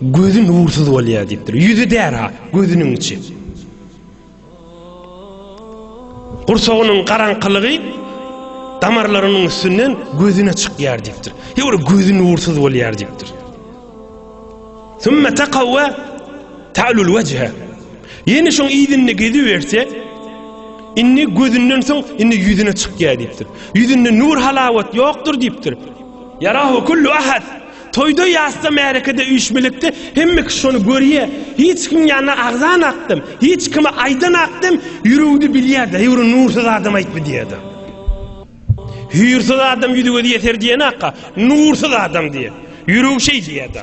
Gözi nursyz bolýar diýipdir. Ýüzi därha, gözüniň içi. Gursagynyň garaňkylygy damarlarynyň üstünden gözüne çykýar diýipdir. Ýöne gözi nursyz bolýar diýipdir. Sümme taqawwa ta'lul wejhe. Ýene şoň ýüzünde gezi berse, indi gözünden soň indi ýüzüne çykýar diýipdir. Ýüzünde nur halawat ýokdur diýipdir. Yarahu kullu ahad. Toýda ýasda märekede üýşmilekde hemme kişi şony görýä hiç kim ýanyna agzan akdym hiç kime aýdan akdym ýüregde bilýä daýwry nursyz adam aýtmy diýäda hüýrsyz adam ýüzi gözi ýeser diýen akga nursyz adam diýä ýüregi şeý diýäda.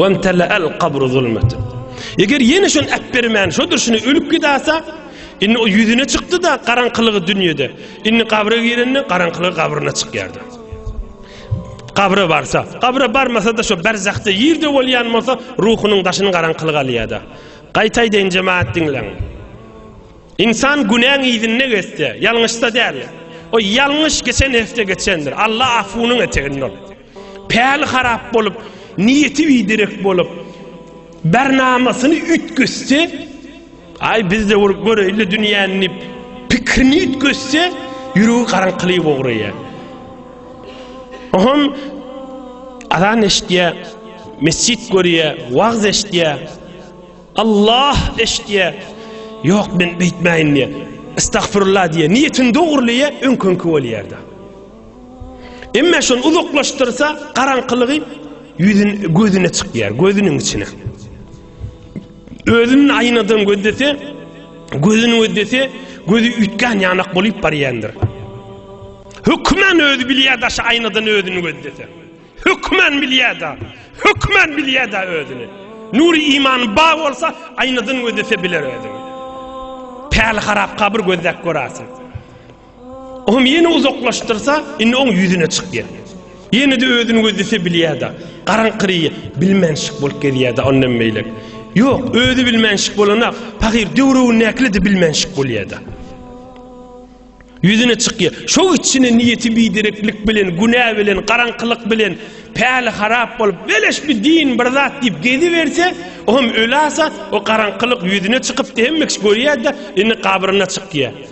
Wemtela'al qabru zulmeten. Eger ýene şony äpbermän, şo durşuna ölüp gidäse, indi o ýüzüne çykdy-da garaňkylygy dünýede. Indi gabra girende garaňkylygy gabryna çykýardy. Gabra barsa, gabra barmasa-da şo berzahda ýerde bolýan bolsa, ruhunyň daşyny garaňkylyk alýar-da. Gaýtaýdaýyn jemaat diňleň. İnsan günäň ýüzünde geçse, ýalňyşsa däl. O ýalňyş geçen hepde geçendir. Allah afunyň eteginde ol. Päli harap bolup, niýeti biderek bolup, bernamasyny üýtgetse, Aý, biz-de urup göreýin-le dünýäni diýip, pikirini üýtgetse, ýüregi garaňkylyga ugraýar. Oňam azan eşidýär, mesjit görýär, wagyz eşidýär, Allah eşidýär. Ýok, men beýtmäýin diýýär. Estagfirullah diýýär. Niýetini dogrulyýar, öňküňki bolýar-da. Emma şony uzaklaşdyrsa, garaňkylygy ýüzün gözüne çykýar, gözüniň içine. Özüni aýnadan gözlese, gözüni gözlese, gözi üýtgän ýanak bolup barýandyr. Hökmen özi bilýär daşy aýnadan özüni gözlese. Hökmen bilýär da, hökmen bilýär da özüni. Nuri iman ba bolsa, aýnadan gözlese biler özüni. Päli harap kabir gözläp görersin. Oňam ýene uzaklaşdyrsa, indi oň ýüzüne çykýar. Ýene-de özüni gözlese bilýär-de. Garaňkyry bilmänşik bolup gezýär-de ondan beýlek. Ýok, özi bilmänşik bolana, pahyr döwründäkile-de bilmänşik bolýar-da. Ýüzüne çykýar. Şo içine niýeti bidereklik bilen, günä bilen, garaňkylyk bilen, päli harap bolup, beleş bir din, bir zat diýip geziberse, oňam ölasa, o garaňkylyk ýüzüne çykyp, hemme kişi görýär-de, indi gabryna çykýar.